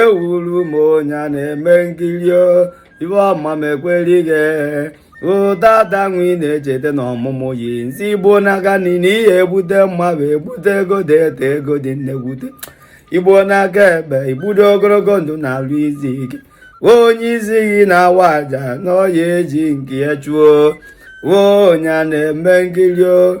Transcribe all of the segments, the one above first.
ewuru m onye a na-eme nkiri o ibe ọma m ekwere ghị ụdada nwe ị na-echeta na ọmụmụ yi nzi igbo n'aka nri i ya ebute mma bụ ebute ego dị ete ego dị na-ebute igbo n'aka ekpe i bute ogologo ndụ na-alụ izi ike onye isi gị na-awa aja na ọ ya eji nke ya chụọ onye a na-eme nkiri o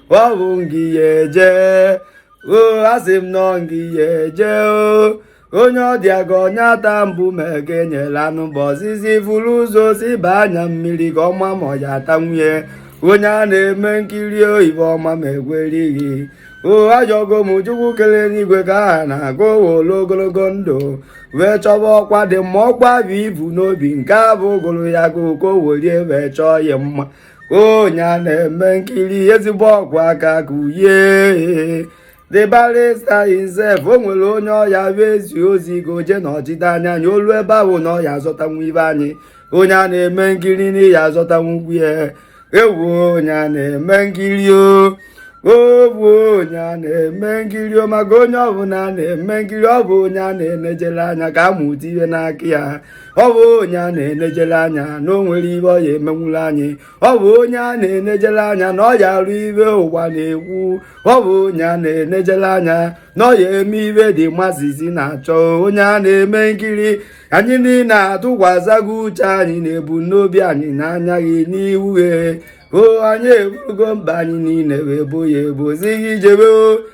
ọ bụ ngị ya eje o asị m na ọ ngị ya eje o onye ọ dị ka onye ata mbụ ma ege nyela anụ bụ ọzizi buru ụzọ siba anya mmiri ka ọ ma ma ọ ya atanwu ye onye a na-eme nkiri o ibe ọma m ekwere ghị o ayọgo m chukwu kelu enigwe ka a na-agụ wolu ogologo ndụ wee chọba ọkwa dị mkpa bụ ebu n'obi nke a bụ ogolo ya ka okowolie wee chọọ ya mma onye a na-eme nkiri ezigbo okwu a ka kwue the barrister himself o nwere onye ọ ya ezi ozi ka o je na ọchịta anya anya olu ebe ahụ na ọ ya azọtanwu ibe anyị onye a na-eme nkiri na ị ya azọtanwu ugwu ya ewu onye a na-eme nkiri o ọ bụ onye a na-eme nkiri o maka onye ọbụla a na-eme nkiri ọ bụ onye a na-enejere anya ka a mụta ihe n'aka ya ọ bụ onye a na-enejere anya na o nwere ibe ọ ya emenwuru anyị ọ bụ onye a na-enejere anya na ọ ya arụ ibe ụwa na-ekwu ọ bụ onye a na-enejere anya na ọ ya eme ibe dị mazizi na-achọ onye a na-eme nkiri anyị niile atụkwasịgo uche anyị na ebu n'obi anyị n'anya gị n'ihu o anyị eburugo mkpa anyị niile wee bo ya ebo zi ghị jebe